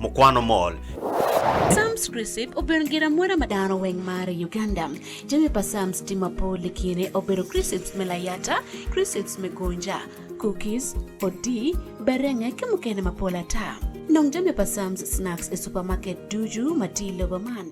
Mukwano mol. Psalms Chrisip obedo gin amwoda ma dano weng maro i Uganda. Jami pa Psalms tye mapol i kine obedo Chrisips me layata, Chrisips me gonja, Cookies, Odii, Berenge ki mukene mapol ata. Nong jami pa Psalms Snacks i Supermarket ducu ma tye i lobo man.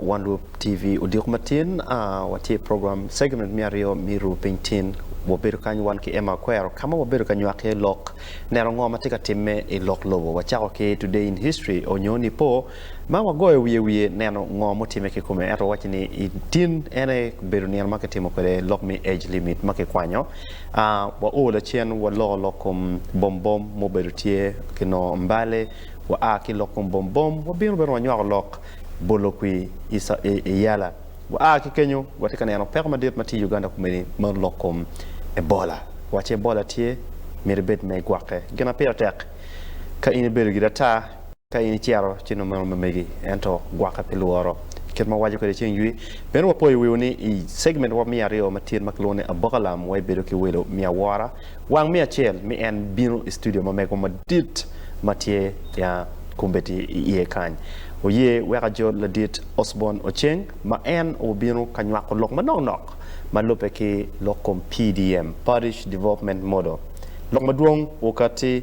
One Loop TV odiko matin, watye i program segment me aryo me Ru Piny Tin. Wabedo kany wan ki Emma Akwero ka ma wabedo ka nywako iye lok, neno ngo ma tye ka timme i lok lobo. Wacako ki Today in History onyo Nipo ma wagoyo wiye wiye neno ngo mutimme ki kome. Ento wawacci ni i tin en aye obedo nino ma kitimo kwede lok me Age Limit ma kikwanyo. Wao lacen waloko lok kom bom bom mubedo tye ki nongo Mbale, waa ki lok kom bom bom wabino bene wanywako lok. bolo kwi i Yala. Gua ki kenyo gua tye ka neno peko madit ma tye i Uganda kumeni ma lok kom Ebola. Wa ci Ebola tye, myero ibed ma igwokke. Gin ma pire tek ka in ibedo giri ata ka in icito ci nongo meno mamegi ento gwokke pi lworo. Kit ma wawaco kwede ceng ywi, meno wapoyo wiwu ni i segment wa me aryo ma tyen ma kilwongo ni Aboka Lam wa ibedo ki welo me awora Wang me acel mi en bino i studio ma mego madit ma tye ya kombeddi i iye kany. Oye weka jo ladit Osborne Ocheng ma en obino ka nywako lok manok nok ma lubbe ki lok kom PDM, Parish Development Model. Lok madwong okatti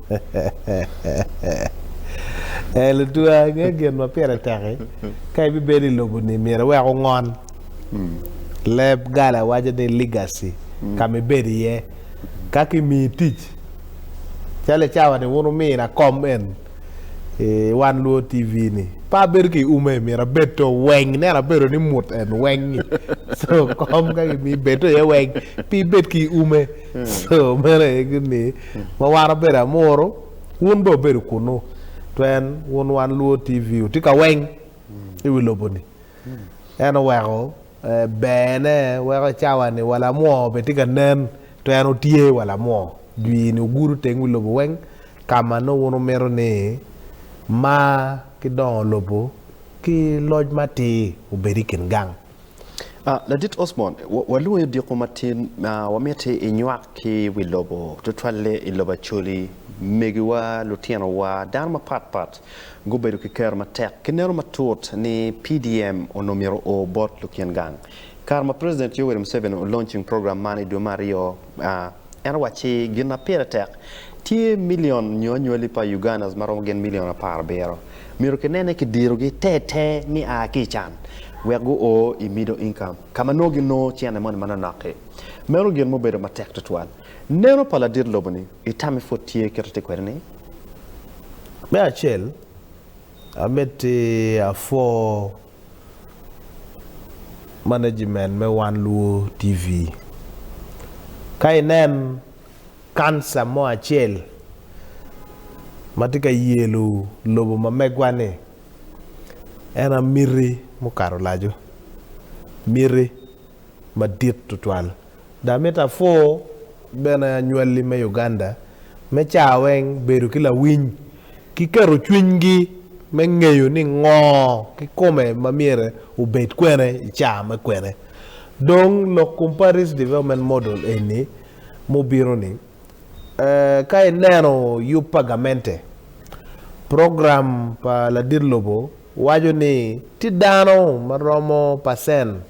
Ee, lutwa, ingeyo gin ma pire tek-ki. Ka ibibedo i lobo-ni, myero iwek wungon leb gala waco ni legacy ka ma ibedo iye. Ka kimiyi tic, calo i cawa-ni wun wumina kom en i Wan Luo TV-ni, pe abedo ki ume, myero abed to weng. Ineno abedo ni mut en weng-ngi. Co kom ka kimiyi bed to iye weng, pe ibed ki ume. So meno aye gin ni ma wan obedo amuru wun bene obedo kunu pien wun wan luo TV otye ka weng i wi lobo ni en oweko ber ne weko i cawa ni wa lamwo bene tye ka nen to en otye wa lamwo dwi ni ogudo teng wi lobo weng ka ma nongo wun wumito ni ma ki dongo lobo ki loc matir obed i kin gang. Ladit Osborne, walwongi odiko matin. Wamiti inywak ki wi lobo, tutwalle i lobo Acholi. Megiwa, lutinowa, dano mapat pat gubedo ki kero matek. Kineno matut ni PDM onongo myero o bot lukin gang. Kare ma President Yoweri Museveni olonching program man i dwe me aryo, En owacci, Gin ma pire tek, tye milion nyo anywali pa Ugandas ma romo gin milion apar abiro myero kinene kidirogi ter ter ni a ki i can wek guo i middle income ka ma nongo ginongo cene moni manonok-ki. Meno gin ma obedo matek tutwal. Neno pa ladit lobo-ni i tammi pud tye kit ma tye kwede-ni. Me acel, amiti apwo management me One Luo TV. Ka inen kanca mo acel ma tye ka yelo lobo ma megwa-ni, en aye miti mukato laco, miti madit tutwal. Dok amito apwor bene anywalli me Uganda me caa weng bedo ki lawiny ki keto cwinygi me ngeyo ni ngo kikome ma myero obed kwene i caa me kwene. Dong lok kom Paris Development Model eni ma obino ni, Ka ineno yub pa gamente, program pa ladit lobo waco ni tye dano ma romo pacen.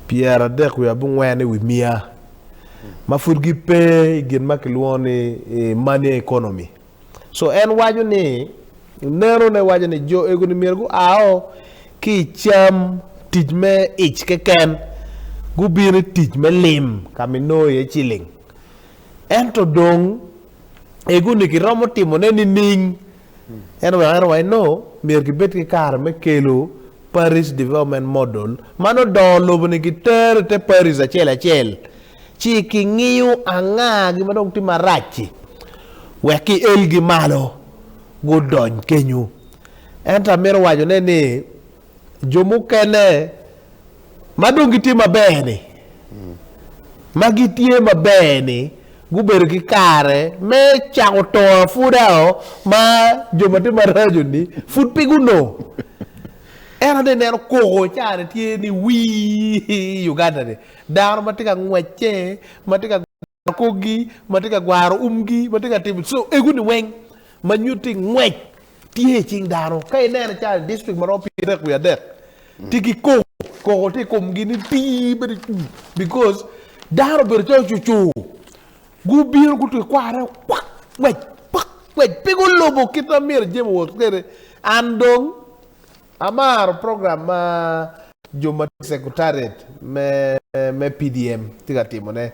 Pyeradek wiye abongwen i wi mia ma pud gipe i gin ma kilwongo ni money economy. So en waco ni neno ne waco ni jo ego ni myero guao ki i cam tic me ic keken gubin i tic me lim ka minongo iye ciling. Ento dong ego ni kiromo timo ne nining? Ento wek ero wa eno, myero gibed ki kare me kelo Parish Development Model ma nongo dongo lobo ni gitero i te Parish acel acel ci ki ngiyo anga gin ma dong tye marac-ci wek ki elgi malo gudony kenyo. Ento amito wacone ni. Jo mukene ma dong gitye maber-ni, ma gitye maber-ni gubedo ki kare me cako to apudao ma jo ma tye maraco-ni pud pe gunongo. Ento ni ineno koko caa-ni tye ni wii i Uganda-ni, dano ma tye ka ngwecce, ma tye ka. akogi ma tye ka gwaro umgi ma tye ka timo so egu ni weng ma nyuto ni ngwec tye i cing dano ka inene calo i district ma romo pyerarek wiye adek tye ki koko koko tye i komgi ni tii bedo cwii because dano obedo calo cucu gubino guto i kwara rek kwak ngwec kwak ngwec pe gulubo kit ma myero jami owot kwede an dong Amaro program ma jo ma tye i Sekretariat me PDM tye ka timone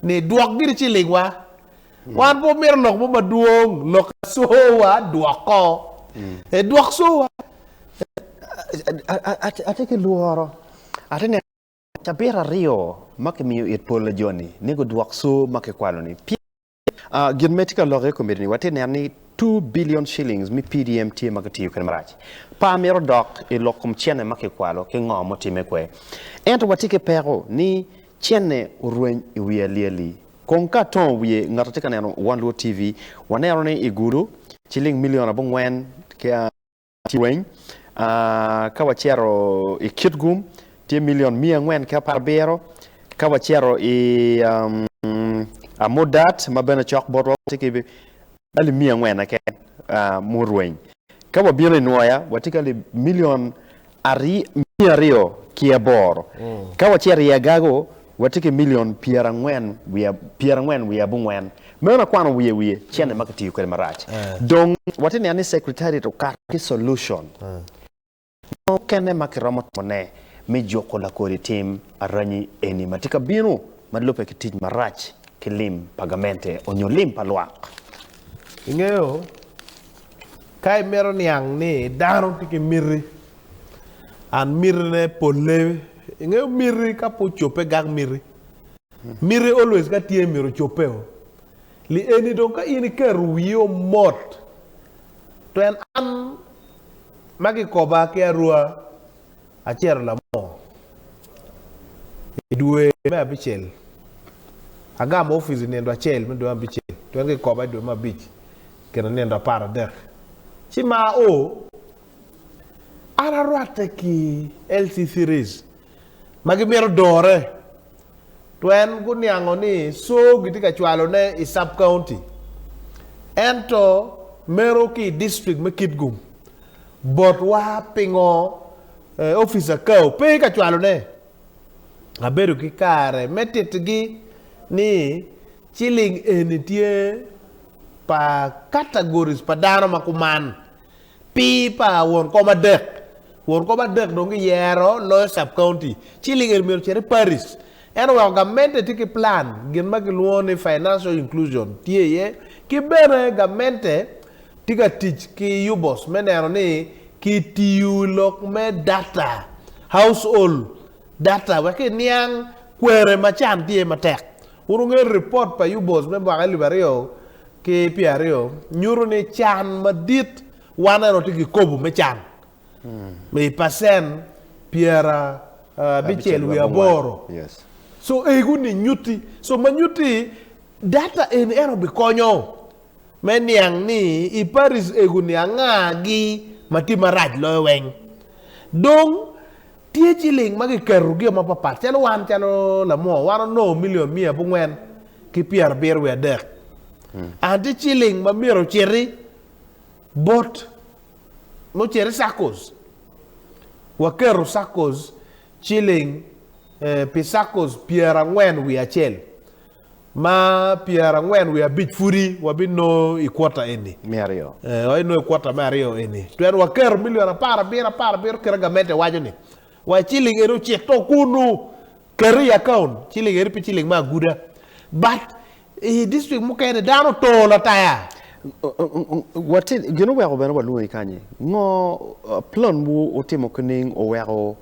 ni, Dwok giri cilingwa. Wan pe wamito lok mo madwong, lok asoowa dwok ko. E, dwok soowa. Atye ki lworo, atye neno cabit aryo ma kimiyo it pol na joni ni gudwok soo ma kikwalo-ni. Gin ma tye ka lokke i kom miti-ni, watye ka neno ni two billion shillings me PDM tye ma kitiyo kwede marac. Par myero odok i lok kom cene ma kikwalo ki ngo mutimme kwe. Ento watye ki peko ni cene orweny i wi alyeli. Kong ka atongo wiye, ngat atye ka neno One Luo TV, waneno ni i Gulu, ciling milion abongwen ki. Cwiny. Ka wacito i Kitgum, tye milion miya angwen ki apar abiro. Ka wacito i Amudat ma bene cok botwa, watye ki alip miya angwen keken murweny. Ka wabino i Nwoya, watye ki alip milion miya aryo ki aboro. Ka wacito i Agago, Watye ki milion pyerangwen pyerangwen wiye abongwen. Meno akwano wiye wiye cene ma kitiyo kwede marac. Dong watye ka neno ni Secretariat okato ki solution mo mukene ma kiromo timone me juko lakodi tim aranyi eni ma tye ka bino ma lubbe ki tic marac ki lim pa gamente onyo lim pa lwak. Ingeyo Ka imito niang ni dano tye ki miti, and miti ne polle, ingeyo miti ka pe ocobbe gak miti. Miti always ka tye myero ocobbe o. Li eni dong ka in iketo wii o mot, tween an ma kikoba ki arua acito lamo i dwe me abicel. Agamo opic i nindo acel me dwe me abicel, tweng kikoba i dwe me abic i kine nindo apar adek. Ci mar o, an arwatte ki LC-Series ma gimito dore tweng guniango ni coo gitye ka cwalone i sub-county ento meno ki i district me Kitgum. Botwa pingo Office Akau pe ka cwalone? Abedo ki kare me titigi ni ciling eni tye pa categories pa dano ma kuman. Pi pa won kom adek, won kom adek dong giyero loyo sub-county. Ciling eni myero ocit i parish. En oweko gamente tye ki plan gin ma kilwongo ni Financial Inclusion tye iye ki bene gamente tye ka tic ki UBOS me neno ni kitiyo i lok me data, household data, wek kiniang kwere ma can tye matek. Wun wungeyo ripot pa UBOS me mwaka elip aryo ki pyeraryo nyuto ni can madit waneno tye kikobo me can I pacen pyera abicel wiye aboro. So egu ni nyutti. So ma nyutti data eni ento bikonyo me niang ni i paris egu ni anga gi ma tye marac loyo weng. Dong tye ciling ma kiketo gi o mapapat calo wan calo lamoo wan onongo million miya abongwen ki pyera abiro wiye adek. Anti ciling ma myero ociti bot mucel i saccos. Waketo saccos ciling pi saccos pyerangwen wiye acel, ma pyerangwen wiye abic pudi wabinongo i kwota eni me aryo. Ee, wabinongo i kwota me aryo eni. Pien waketo milion apar abiro apar abiro kit ma gamente waco ni, wa ciling eni ocik to kunu, ket i akaun ciling eni pi ciling me aguda. But I distrik mukene, dano otor lataya. Wati, gin oweko bene walwongi kany-nyi. Ngo planwu wutimo kining oweko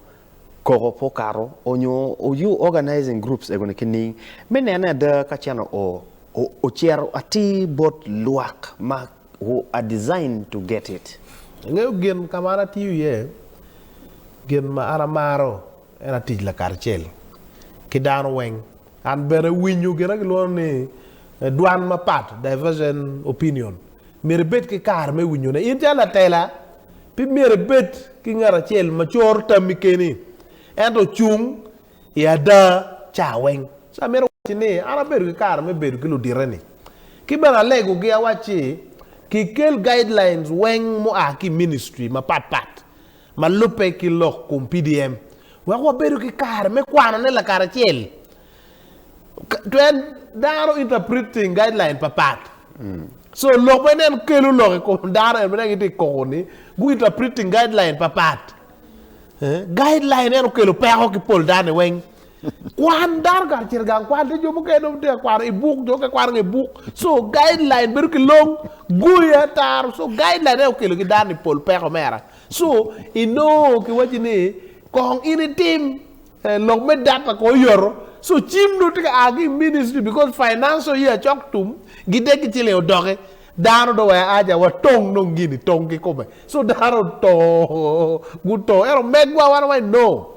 koko pe okato onyo you organizing groups egoni kining me nene ada ka cene o ocito atir bot lwak ma who are designed to get it? Ingeyo gin kama an atiyo iye, gin ma an amaro en aye tic lakaracel ki dano weng. An bene winyo gin ma kilwongo ni dwan mapat, divergent opinion, myero ibed ki kare me winyone. In calo latela, pe myero ibed ki ngat acel ma coro tammi keni, ento ocung i ada ca weng. So amito wacci ni an abedo ki kare me bedo ki ludite-ni, ki bene alegogi awacci kikel guidelines weng mua ki i ministry mapat pat. ma lubbe ki lok kom PDM wek wabedo ki kare me kwanone lakaracel. Twed dano interpret thing guideline pa pat. So lok bene en kelo lok i kom dano en bene gitye i koko ni gu interpret thing guideline pa pat. Guideline en okelo peko ki pol dano-ni weng. Kwan dano kacel gang kwan te jo mukene dong te kwano i buk jo ke kwano nge buk so guideline bedo ki long goyo ataro so guideline ene okelo ki dano ni pol peko mera so inongo ki waci ni kong in itim eh, lok me data ko oyoto so cim dong tye ka a ki ministry because financial year cok tum gide ki ciling odoki dano dong waya aja wa tong dong gini tong ki kome so dano to guto ento megwa wan wa inongo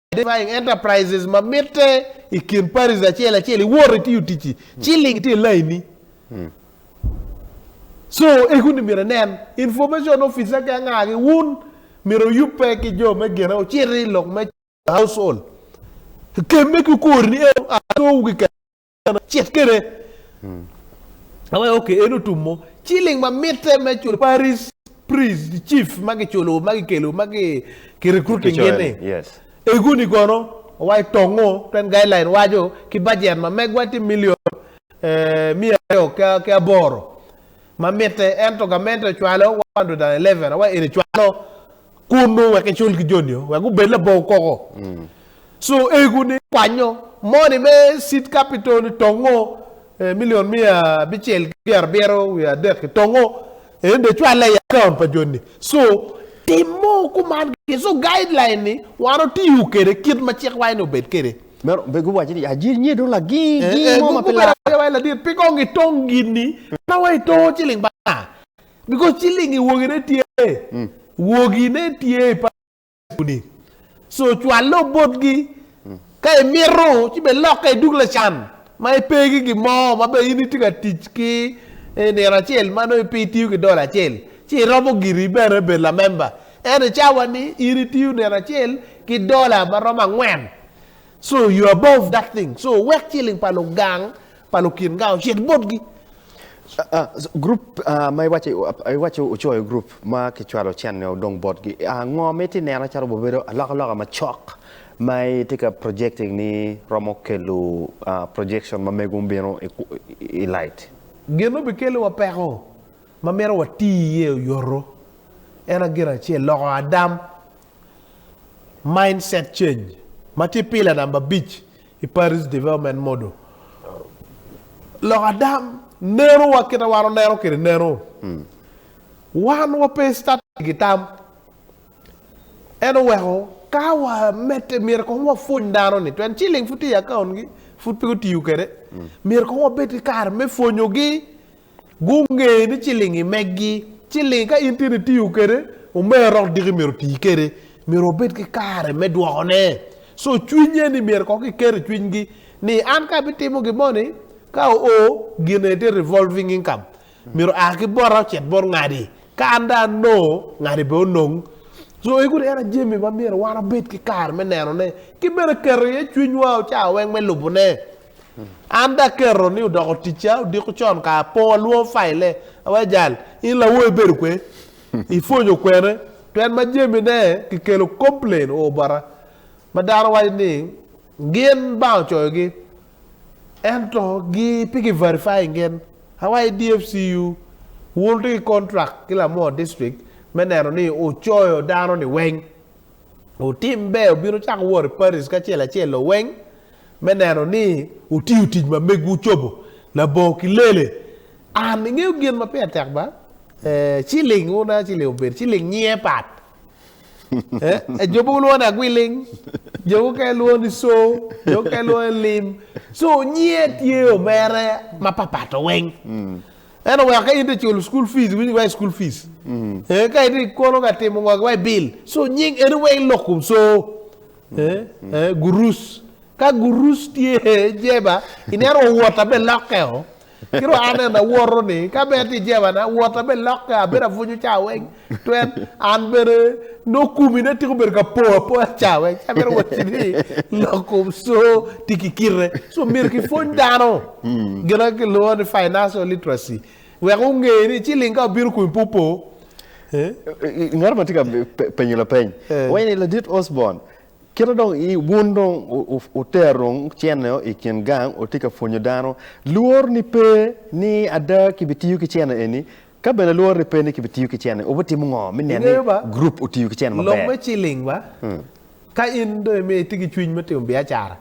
Identifying Enterprises ma mitte i kin Paris acel acel iwoto itiyo ticci ci link tye i lainni. Co ego ni myero inen Information Officer ki anga ki wun myero oyubbe ki jo me gine ociti i lok me Household. Kemme ki okori ni eno a cowu keken. kama acel kene awaye hmm. oke en otumo ciling ma mitte me culo paris pris chief ma giculo ma gikelo ma ki recruiting gini eguni kono awaye tongo ten guideline waco ki budget ma megwa ti million eh, miya aryo ki aboro ma mitte ento gamente cwalo 111 awaye eni cwalo Kunnu wek icul ki joni o, wek gubed labongo koko. Co ego-ni kwanyo moni me Seed Capital i tongo milion miya abicel ki pyera abiro wiye adek i tongo. En dong ecwalle i akaont pa joni. Co tim mo kuman keken. Co guideline ni wan otiyo kede kit ma cik waye ni obed kede. Meno be guwaco ni ajir nye dong lagi gi mo ma pe lar. Gubedo agiya waye ladit pi kong itong gini ma wa itongo ciling pa nga. Because ciling i wogi ne tye. Mm. Wogi ne tye i pa ni. So cwalle obot gi. Mm. Ka i mito ci be lok ka i duk la can. Ma i pe ki gi mo ma be in i tye ka tic ki e nino acel ma no i pe i tiyo ki dollar acel. Ci i romo giri bene bed la member. Ento i cawa ni in i tiyo nino acel ki dollar ma romo angwen. So you above that thing. So wek ciling pa lugang pa lukin nga ocit botgi. Gurup ma iwaco ocoyo gurup ma kicwalo cente odong botgi, ngo ma itye neno calo obedo alokaloka macok ma itye ka projecting ni romo kelo projection ma mego bino i light? Gin ma obikelo wa peko ma mito wati iye oyoto en aye gin acel loko adam, mindset change, ma tye pillar number abic. I Paris Development Model, lok ada neno wa kit ma wan waneno kwede neno. Wan wape i static i tam. En oweko ka wamedde myero kong wapwony dano ni pien ciling pud tye i account gi pud pe gutiyo kwede. Myero kong wabed ki kare me pwonyogi Gunge ni cilingi megi. Cilingi ka in tye ni tiyo kede, omera dok diki myero oti kede. Myero wabed ki kare me dwoko ne. So cwiny eni myero kong ki ket i cwiny gi ni an ka abi timo gi moni ka o o gin eni tye revolving income. Myero a ki bota ocit bot ngadi. Ka an dong anongo, ngadi bene onong. So egu ni en aye jami ma myero wan wabed ki kare me neno ne. Ki bene keto iye cwiny wa ocawa weng me lubo ne. An dok aketo ni odoko ticca odiko con ka apong alwongo faille. Awaco jal, 'In lawoyi bedo kwe? Ipwonyo kwene? Pien ma jamine kikelo complain o bota, ma dano waco ni gin banga ocoyogi, ento gi pe ki verifying gin. Awaco DFCU, 'Wun wutye ki contract ki Lamoo District me neno ni ocoyo dano-ni weng? Otim ber obin ocak wot i parish kacel acel-lo weng? me neno ni wutiyo tic ma megwu ocobo labongo ki lele. An, ingeyo gin ma pire tek ba? Ee, ciling, wun a ciling obedo, ciling nyinge pat. Ee, jo mogo lwongo ni agwiling, jo mukene lwongo ni co, jo mukene lwongo ni lim. Co nyinge tye omere ma papat oweng. Ento weko ka in te culo school fees, iwinyo waci school fees. Ee, ka ite ikono ka timo ngo ki waci bill. Co nying eni weng lok kom co. Gurus. Ka gurus tye jeba i neno wa wota be lokke o. Kiro an en awoto ni ka bene tye jeba na wota be lokke abedo abunyu ca weng twet an bene nongo kumi ne tiko bedo ka po apoya ca weng ca bene woti ni loko so tye ki kite so myero ki pwony dano gina ki lwongo ni financial literacy. Wek wunge ni ciling ka obino kun pe opo. Ngat ma tye ka penyo lapeny waco ni, Ladit Osborne, kite dong wun dong wutero dong cene i kin gang wutye ka pwonyo dano, lworoni pe ni ada kibitiyo ki cene eni? Ka bene lworoni pe ni kibitiyo ki cene, wubitimo ngo me neno ni gurup otiyo ki cene maber? Lok me ciling ba, ka in dong imiyo itye ki cwiny me timo biacara,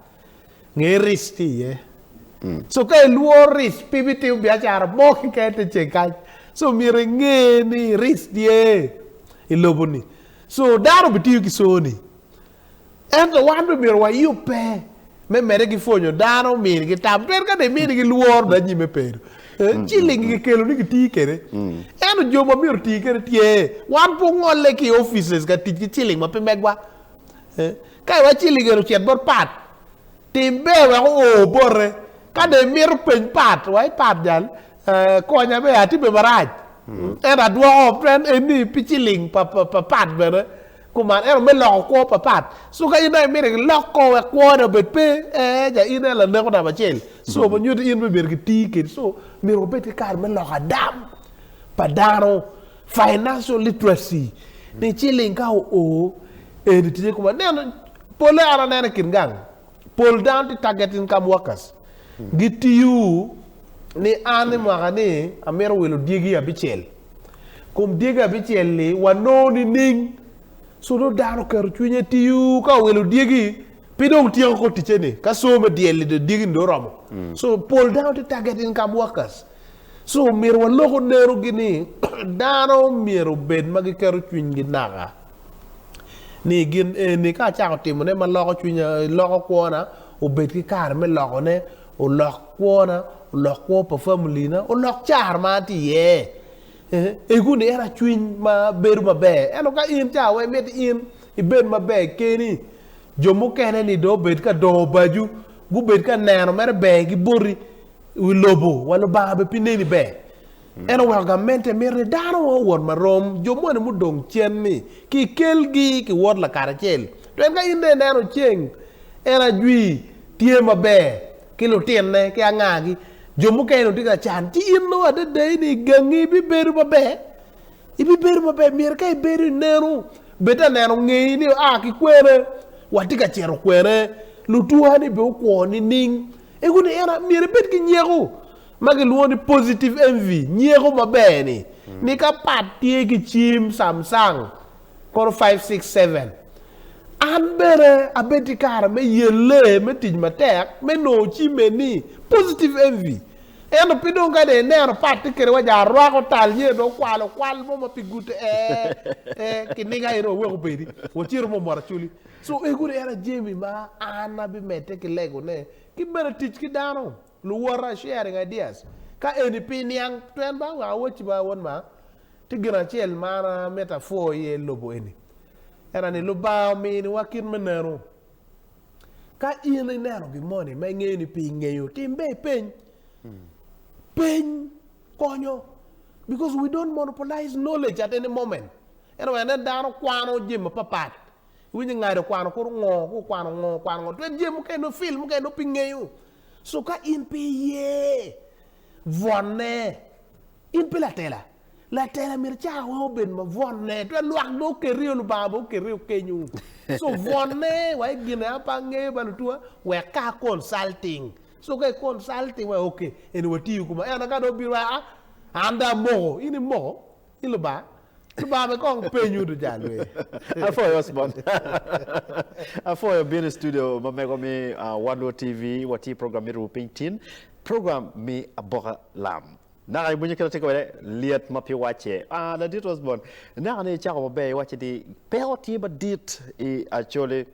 nge ric tye iye. So ka ilworo ric pe ibitimo biacara mo keken te ceng kany. So myero inge ni ric tye i lobo ni. So dano bitiyo ki so ni. Ento wan be myero wayub pe me mede ki pwonyo dano mini ki tam. Twero ka dong imini ki lworo dong anyime pedo. Ciling ki kelo ni ki ti kede. Ento jo ma myero oti kede tye. Wan pe ongolle ki offices ka tic ki ciling ma pe megwa. Ka iwacci ligeri ocit bot Pat, tim ber wek oo bote. Ka dong imito peny Pat, iwaci, Pat jal, konya bene, atime marac. Ento adwoko pren en ni pi ciling pa Pat bene kuman, ento me loko kwo pa Pat. Cu ka in dong imito ilok kor wek kwone obed pe, ee ca in aye laneko namba acel. Co ma nyuto in bene ibedo ki tir kwede. Co myero wabed ki kare me loko adam pa dano. Financial literacy ni ciling ka oo eni tye kuma neno pole an anene kit gang pol dano tye target income workers gitiyo ni an i mwaka ni amito wilo dyegi abicel kum dyegi abicel ni wanongo nining so nongo dano keto cwinye tiyo ka owilo dyegi pi dong tyeko ko ticce ni ka so me dyel-li dyegi ni dong oromo so pol dano tye target income workers So myero walok onerogi ni dano myero obed ma giketo cwinygi naka ni gin eni ka acako timone ma loko cwinya, loko kwona, obed ki kare me lokone, olok kwona, olok kwo pa familina, olok car ma atye iye. Eh, Egu ni en acwiny ma bedo maber. Ento ka in ca wa imito in ibed maber keni, jo mukene ni dong obed ka dongo obacu, gubed ka neno mere ber ki boti, I wi lobo wa Lubanga bene pe neni ber. En oweko gamente mito ni dano wa owot marom, jo moni mudong cen-ni kikelgi ki wot lakaracel. Pien ka in dong ineno ceng en ajwi tye maber ki lutinne ki angagi, jo mukene dong tye ka can, ci in nongo adedei ni gangi bibedo maber? Ibibedo maber? Myero ka ibedo ineno, bed ta neno ngei ni oa ki kwene? Watye ka cito kwene? Lutwa-ni bene okwo nining? I wi eno, myero ibed ki nyeko ma kilwongo ni positive envy, nyeko maber-ni, ni ka pat tye ki cim Samsung kono five, six, seven, an bene abed ki kare me yelle, me tic matek me nongo cim eni. Positive envy. Ento pe dong kadi ineno pat tye kede wa ja rwako tal nyo dong kwalo kwal mo ma pe gute, ee, ee, kiniga eno waweko pedi, wacito mo mot aculi. Cu egu ni en aye jami ma an abimedde ki legone, ki bene tic ki dano, luwota, sharing ideas, ka eni pi niang twen ba wek awacci ba wun ma, tye gin acel ma an amito apwo iye i lobo eni, ena ni Lubanga ominiwa kit me neno. Ka in ineno gin moni ma ingeyo ni pe ingeyo, tim be ipeny. Peny konyo because we don't monopolize knowledge at any moment. Ento wek inen dano kwano jami mapapat Iwinyo ni ngado kwano kor ongo, kor kwano ongo, kwano ongo. Twed jami mukene nongo fil mukene nongo pe ingeyo. So ka in pe iye, bwonne. In pe latela. Latela myero cawa weng obed ma bwonne. Twed lwak dong okerio, Lubanga bene okerio kenyo. So bwonne wa i gin ea pe angeyo ba lutuwa, wek ka a consulting. So ka i consulting wa, okay, eni watiyo kuma. Ento ka dong obino wa, aa, an dong amoko. In imoko? Yi Lubanga, Lubanga be kong penyu duca lwee. Apwoyo Osborn. Apwoyo bino i studio ma mego mi One World TV. Watye i program me Ruu Piny Tin, program me aboka lam. Naka ibunyo kit atye kwede, lyet ma pi wacce. Ah, Ladit Osborn, ineno ni icako maber iwacce ni peko tye madit i Acholi.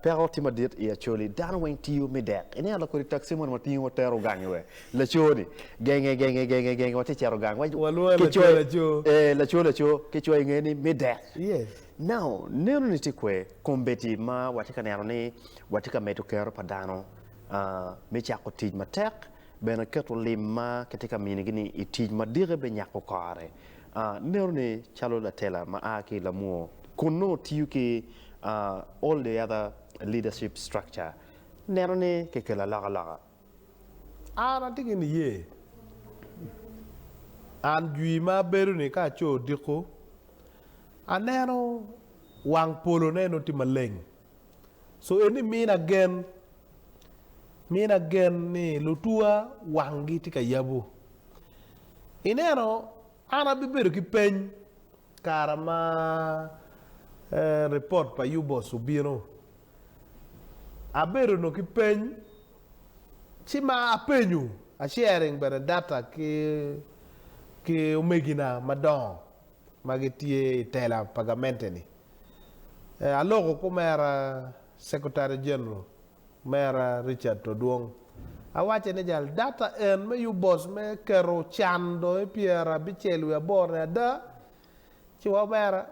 Peko tye madit i Acholi, dano weng tiyo me dek. Iniang dok kodi taxi moni ma tingo tero gang iwe. Laco ni genge genge genge genge watye cero gang. Walwongo laco laco. Eh, laco laco ki coyo inge ni me dek. Yes. Now, neno ni tye kwer kombeddi ma watye ka neno ni watye ka medo kero pa dano uh, me cako tic matek Bene keto lim ma kitye ka minigi-ni i tic ma dikke binyako kore. Ineno-ni calo latela ma a ki i Lamwo kun nongo tiyo ki All the Other Leadership Structure, neno ni kikelo alokaloka. An atye ki niye. An jwi ma abedo-ni ka aco odiko, aneno wang polone nongo tye maleng. So eni mina gen, mina gen ni lutwa wanggi tye ka yabu. Ineno, an abibedo ki peny kara ma ripot pa Yubos obino. Abedo nongo ki peny, ci ma apenyo, a sharing bene data ki ki omegina madongo ma gitye i tela pa gamente-ni. ee aloko kumera Secretary General mera Richard Todwong awace ni jal data en me yub boss me keto can dong i pyer abicel wiye aboro ni ada ci wa omera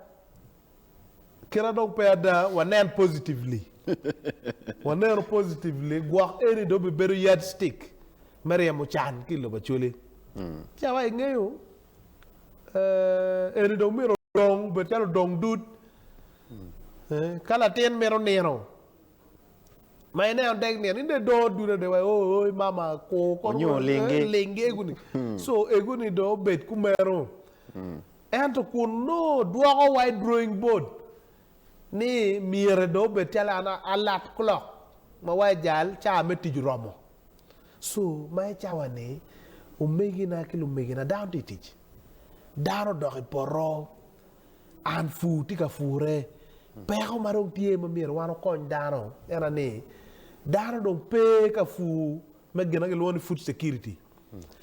kira dong pe ada wanen positively waneno positively gwok eni dong bibedo yard stick me ryemo can ki i lobo Acholi ci awace ingeyo Eni dong myero odong obed calo odong dud. Ka latin mito nino, ma ineno dek nino, in dong idongo dud adada wa, oh, oh, mama kur kono, Onyo olingi. eh, lingi ego ni. So ego ni dong obed kumeno. Ento kun nongo dwoko wa i drawing board ni myero dong obed calo an a- alat clock ma wa ejal, ca me tic oromo. So, ma i cawa-ni, omegina ki lumegina, dano tye i tic. Dano odok i poto. An pur tye ka purre. Peko ma dong tye ma myero wan okony dano en aye ni, dano dong pe ka pur me gin ma kilwongo ni food security.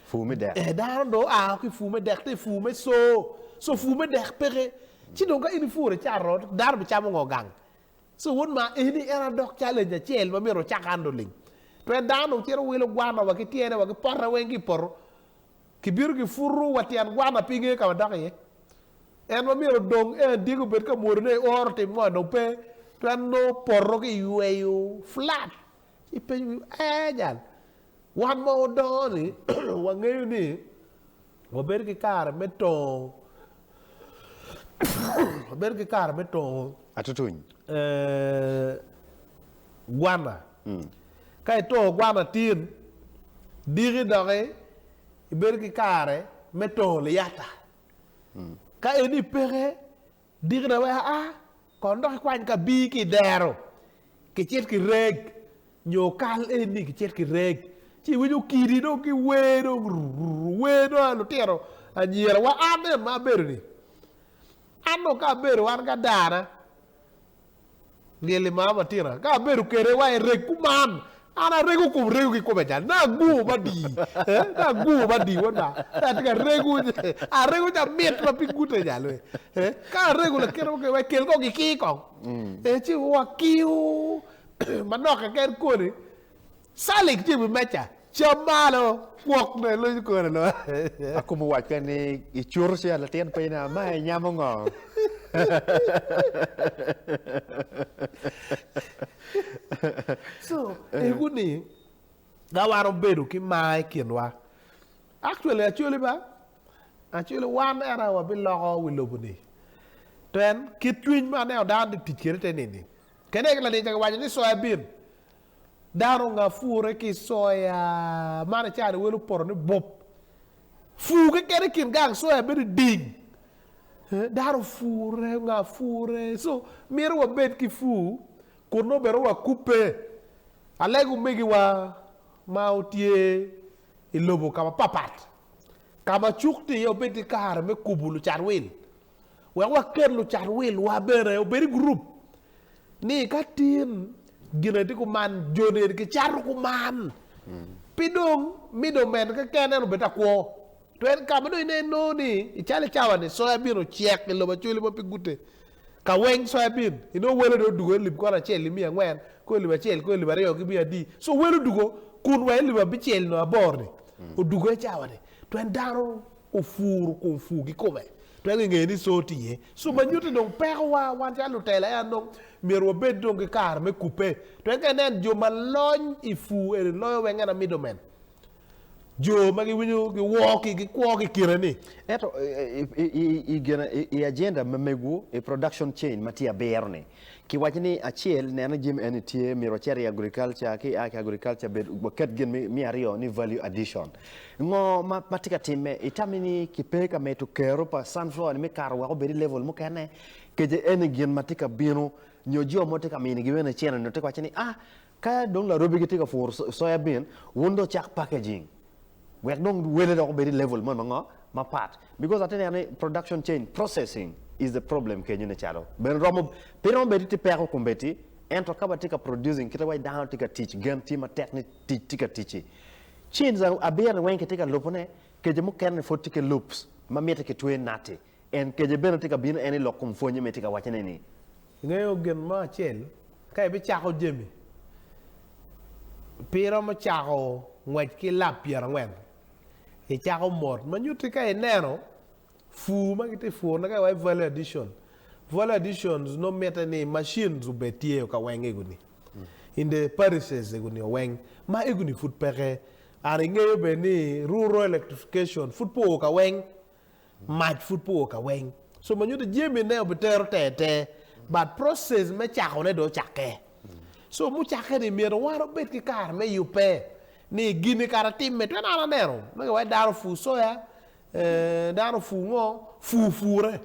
Pur me dek. Eh, dano dong oa ki i pur me dek te i pur me co. So pur me dek peke. Ci dong ka in ipuro icato, dano bicamo ngo gang? So wod ma eni en aye dok challenge acel ma myero ocak an lulim. Pe dano dong cito wilo gwana wa ki tyene wa ki pote weng ki i poto. Kibino kiputo wa tyen gwana pe ingeyo ka wadok iye. En ma myero odong en dyegi obed ka mwodo ne i oro otim ngo dong pe. Twero nongo poto ki yweyo flat ipenyo wi ee jal. Wan ma wadongo ni wangeyo ni Wabedo ki kare me tongo wabedo ki kare me tongo Atutuny. ee, gwana. Ka itongo gwana tin, diki doki ibedo ki kare me tongo liyata. Ka eni peke, Dikna wek aa, kono dok ikwany ka bii ki i dero, kicit ki reg, nyo kal eni kicit ki reg. Ci iwinyo kidi dong ki wer dong rrrr, wer dong a lutino anyira wa an nen ma abedo-ni. An dong ka abedo wan ki adana, Ngeli ma ama tira ka abedo kede wa ereg kuman an arego kom rego ki kome cal na agur ma di eh na agur ma di won ma na atye ka rego arego ca mit ma pe gute nya lwe eh ka arego lakite mo kene kel kong kiki kong eh ci wa kiu manok keken koni Salik tye i wi meja, cam malo, gwok ne luny kore nongo. Akumo wacce ni, Icuto ci, a latin piny, a ma inyamo ngo? So, egu ni, ka wan obedo ki mar i kinwa, actually acoli ba, actually wan era wabiloko wi lobo ni. Pien kit cwiny ma aneno dano tye tic kwede te nini. Kene aye latin ca giwaco ni soya bean, Dano onga pure ki i soya. Mano i cawa ni wel opoto ni bop. Pur keken i kin gang soya bedo i ding. Dano opure, onga pure. So myero wabed ki pur kun nongo bene wakubbe. Alega omegiwa ma otye i lobo ka mapapat, ka ma cuk tye iye obed ki kare me kubo lucat wil. Wek waket lucat wilwa bene obed i gurup ni ka tin gin aye tye kuman jo ni eni kicato kuman. Pe dong middleman keken en obed ta kwo. To en ka ma dong inen nongo ni i calo i cawa ni soya bin ocek i lobo Acholi ma pe gute ka weng soya bin inongo wele dong odugo elip kwan acel nimiya angwen kong elip acel kong elip aryo gimiya adi. So wele odugo kun wa elip abicel nyo abor ni odugo i cawa ni tween dano Opuro kun pur ki kome. Twero ki ngeyo ni coo tye iye. Coo ma nyuto ni dong peko wa wan calo lutela en dong myero wa bed dong ki kare me kupe. Twero ki nen jo ma lony i pur eni loyo weng en a middle man. Jo ma gi winyo gi woo ki gi kwo ki kine ni. Ento i gene i agenda me megu i production chain ma tye abiro ni. Ki waco ni acel neno jami eni tye myero ocit i agriculture ki a ki agriculture bed waket gin me aryo ni value addition ngo ma tye ka timme i tami ni ki pe ka medo kero pa sunflower ni me kato wek obed i level mukene kece eni gin ma tye ka bino nyo jo mo tye ka mini gi bene cene nyo tye ka waco ni a Ka dong larobi gitye ka puro soya bean, wun dong cak packaging wek dong wele dok obed i level moni ma ngo mapat because atye neno ni production chain processing is the problem kenyo ne calo bene romo pe romo bedi tye peko kombeddi ento ka watye ka producing kite waci dano tye ka tic gen tye matek ni tic tye ka ticci chains abiro ni weng kitye ka lubo ne keco mukene ni pwod tye ki loops ma mite kitweyo nati En kece bene tye ka bino, en i lok kom pwonye me tye ka wacce ne ni. Ingeyo gin mo acel, ka ibi cako jami, pi iromo cako ngwec ki lap pyera ngwen, i cako mot, ma nyuti ka ineno pur ma giti pur ne ka iwaco value addition, value additions nongo mite ni machines obed tye ka weng ego ni, in the parises ego ni oweng, ma ego ni pud peke, and ingeyo bene ni rural electrification pud pe oo ka weng, Mac pud pe oo kaweng, so ma nyuto jami ne obitero ter ter but process me cako ne dong ocakke. So mucakke ni myero wan obed ki kare me yubbe ni gini kara timme twene an aneno ma giwaci dano opur soya, dano opur ngo, pur pure.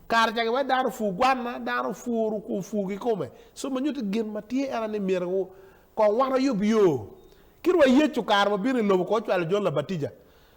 Kare ca giwaci dano opur gwanna, dano opur opur kikome. So ma nyuto gin ma tye en aye ni myero kong wan wayub yo. Kit wa Yecu kare ma obino i lobo kong ocwalo Jon Labatija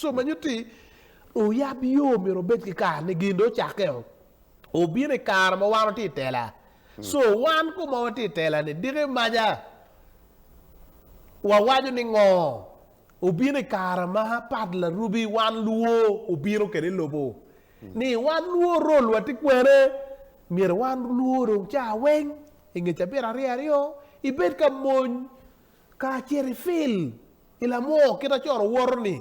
Co ma nyuto ni oyab yo myero obed ki kare ni gin dong ocakke o. Obino i kare ma wan watye i tela. Co wan ko ma watye i tela-ni diki maja wawaco ni ngo? Obino i kare ma Pat Larubi wan luo obino kwede i lobo ni wan luo rol wa tye kwene. Myero wan luo dong ca weng i nge cabit aryo aryo ibed ka mony kacel i fil. I lamoo kit a coro woto ni,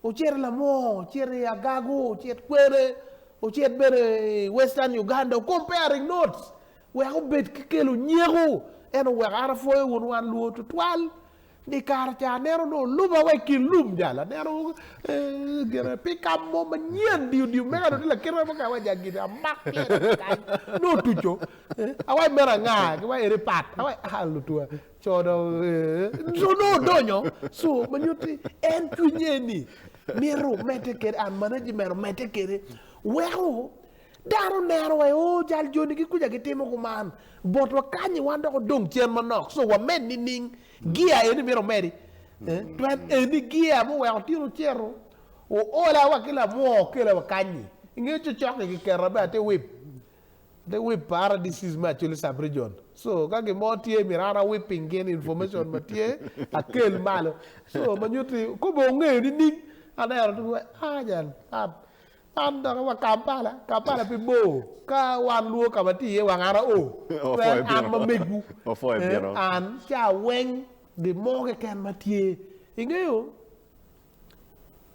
ocit i lamoo, ocit i agago, ocit kwene, ocit bene i western Uganda o comparing notes wek obed ki kelo nyeko ento wek an apwoyo wun wan luo tutwal ni kare ca aneno ni oluba wa i kin lum jal aneno gine pick up mo manyen diyo diyo mega dong tye lakite mo kany awaco agide amak pyere kany nongo otuco awaco meno anga ki waco eni pat awaco aa lutwa Co dong ee. Co nongo odonyo, so ma nyuto ni en cwinye ni mito medde kwede and management omedde kwede weko dano oneno wa oo jal joni gi kuca gitimo kuman bot wakanyi wan dok odong cen manok so wamed nining gear eni mito omedi twel eni gear muweko tyen ocito oola wa ki lamwoo okela wakanyi inge cocok-ki kiketa bene ate wip The Web Paradises me Acholi Sub-Region. So, ka gin mo tye, myero an awib piny gin information ma tye, akel malo. So, ma nyuto ni, kobbe ongeyo nining? Aneno dong wai, ah, jal man, man doki wa Kampala, Kampala pe bor. Ka wan lwor ka ma tye iye wang an ao. Pe en, an ma megwu. Ee, an, ca weng, gin mo keken ma tye. Ingeyo?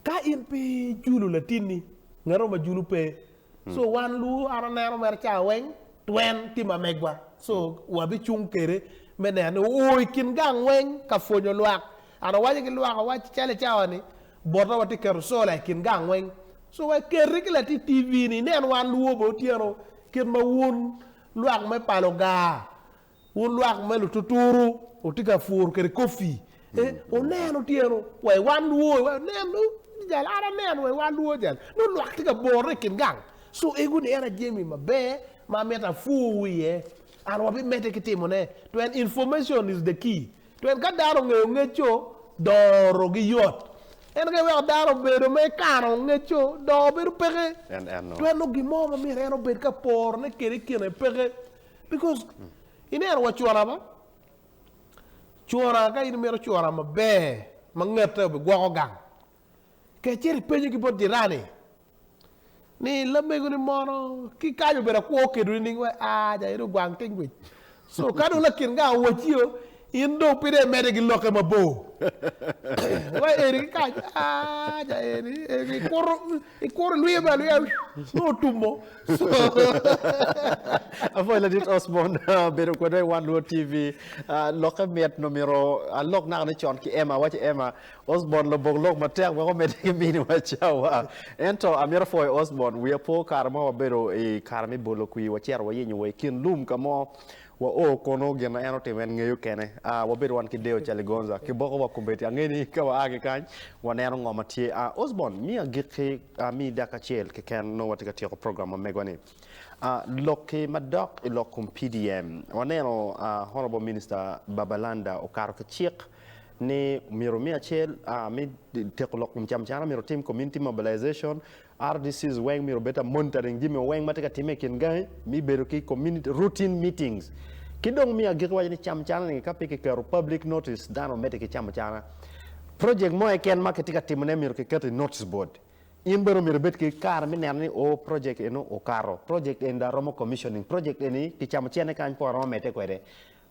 Ka in pe ijulo latinni, ngato ma julo pe. So wan lu an aneno mere cawa weng twen tye ma megwa. So wabicung kede me neno ni oo i kin gang weng ka pwonyo lwak. An awaco ki lwak awac calo i cawa ni bota watye keto sola i kin gang weng. So wek keti ki latit TV ni inen wan luwo bene otyeno kit ma wun lwak me pa Lugar Wun lwak me lututuru wutye ka pur kwede coffee, wunen otyeno wa i wan lwor iwaco nen dong jal an aneno wa i wan lwor jal nongo lwak tye ka bore i kin gang so ego ni en aye jami maber ma amito apur wiye and wa bi mede ki timo ne tween information is the key tween ka dano ongeyo ngeco doro gi yot en aye weko dano obedo me kano ngeco doro bedo peke tween nongo gin mo ma myero en obed ka pore ne kwede i kine peke. Because ineno wa cura ba. Cura ka in imito cura maber ma ngete obi gwoko gang. Kec cito ipenyo ki bot jirani ni lamego ni mono ki kany obedo akwo okedo ni ning wai aa ja eno ogwang king wic. So ka dong lakin gang owaci o In dong pire imede ki lokke mabor. Wa eni ki kany, ah, ja eni, eni, ikuro, ikuro lwiye me alwiya, nongo otumo. Apwoyo Ladit Osborn bedo kwedwa i Wan Luo TV. Ah, lokke mit, nongo myero alok naka ni con ki Emma, awaco Emma, Osborn lobok lok matek wek omedde ki miniwa cawa. Ento amito pwoyo Osborn, wiya po kare mo wabedo i kare me bolo kwir, wacito wayenyo wa i kin lum ka mo, Wa o kono gin ma en otimo en ngeyo kene. A wabed wan ki deyo calo Gonza ki boko wa kombeddi. Angeyo ni ka wa a ki kany wa neno ngo ma tye. A Osborne, mi agik ki, a mi dak acel keken nongo watye ka tyeko program ma megwa ni. A lok ki ma dok i lok kom PDM. Wa neno a Honourable Minister Babalanda okato ki cik ni myero mi acel a mi teko lok kom cam cana myero otim community mobilization RDCs weng myero obed ta monitoring jami weng ma tye ka timme i kin gangi, me bedo ki community routine meetings. Ki dong me agikki waco ni cam cana ni ka pe ki keto public notice dano medde ki camo cana. Project mo eken ma ki tye ka timo ne myero ki keto i notice board. In bene omyero ibed ki kare me neno ni oo project eno okato, project eni dong aromo commissioning, project eni ki camo cene kany pong aromo medde kwede.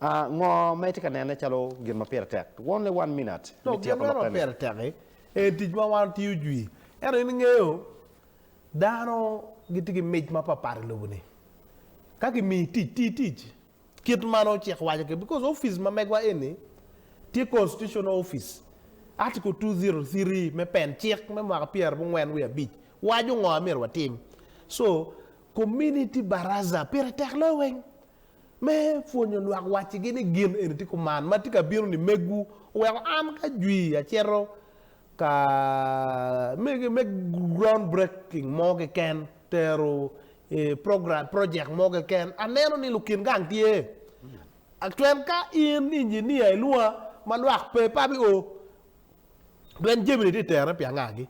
A Ngo ma itye ka nene calo gin ma pire tek? Only one minute me Lok, gin tyeko meno ma lokke-ni. pire tek-ki en tic ma wan watiyo jwi. Ento in ingeyo dano gitye ki mic mapatpat i lobo-ni. Ka kimiyi tic, ti tic kit ma nongo cik waco kwede. Bikos opic ma megwa eni tye constitutional office. Article two zero three me pen, cik me mwaka pyerabongwen wiye abic, waco ngo ma myero watim. So, community baraza pire tek loyo weng. Me pwonyo lwak waccigi ni gin eni tye kuman ma tye ka bino-ni. Megwu oweko an ki ajwi acito ka me ground breaking mo keken, tero program, project mo keken. Aneno ni lukin gang tye. Tween ka in engineer ilwonga ma lwak pe pe abi o. Tween jami-ni tye ka terone pi angagi.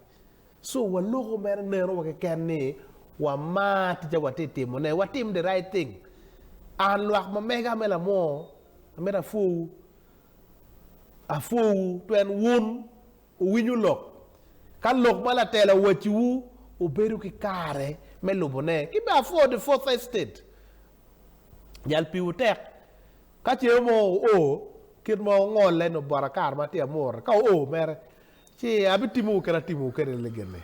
So wa loko mere neno wa keken ni wa mar ticce wa ti timo ne wa tim the right thing and lwak ma mega me lamwor amito a pwo wu a pwo wu tween wun wu winyo lok ka lok ma latela owaci wu wu bedo ki kare me lubo ne ki be a pwo the fourth estate jal pi wu tek ka ce mo wu o kit ma wu ngole ni obota kare ma ti amwor ka wu o mere Ci abitimowu kit atimowu kwede ligini.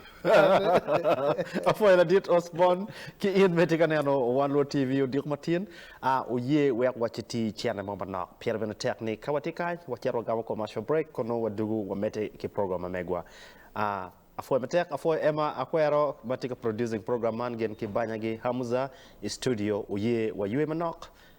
Apwoyo ladit Osborne ki in me tye ka neno Wan Luo TV odiko matin. A Oye wek waciti cente mo manok, pire bene tek ni ka watye kany wacito wagamo commercial break kun nongo wadugu wamedde ki program ma megwa. A Apwoyo matek. Apwoyo Emma Akwero ma tye ka producing program man gin ki banya gi Hamza i studio. Oye waywe manok.